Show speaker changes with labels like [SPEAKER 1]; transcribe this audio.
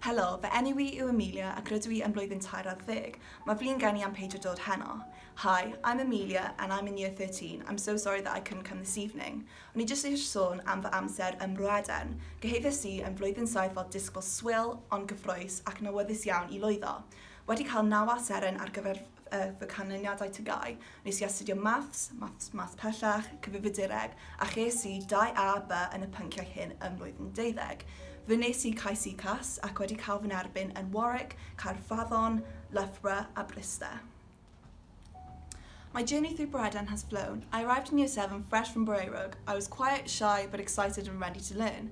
[SPEAKER 1] Helo, fy enw i yw Amelia ac rydw i yn blwyddyn tair ar ddeg. Mae fi'n geni am peidio dod heno. Hi, I'm Amelia and I'm in year 13. I'm so sorry that I couldn't come this evening. O'n i jyst eisiau sôn am fy amser ym Mroeden. Gyhoeddes i yn flwyddyn saith fel disgybl swil ond gyffrous ac yn awyddus iawn i lwyddo. Wedi cael naw A seren ar gyfer fy canlyniadau TGAU. Nes i astudio Maths, Maths Math Pellach, Cyfrifiadureg a ches i dau A, B yn y pynciau hyn ym mlwyddyn deuddeg. Fe wnes i cais UCAS ac wedi cael fy nerbyn yn Warwick, Caerfaddon, Loughborough a Bryste. My journey through Bryden has flown. I arrived in year seven fresh from Boreuruwg. I was quiet, shy but excited and ready to learn.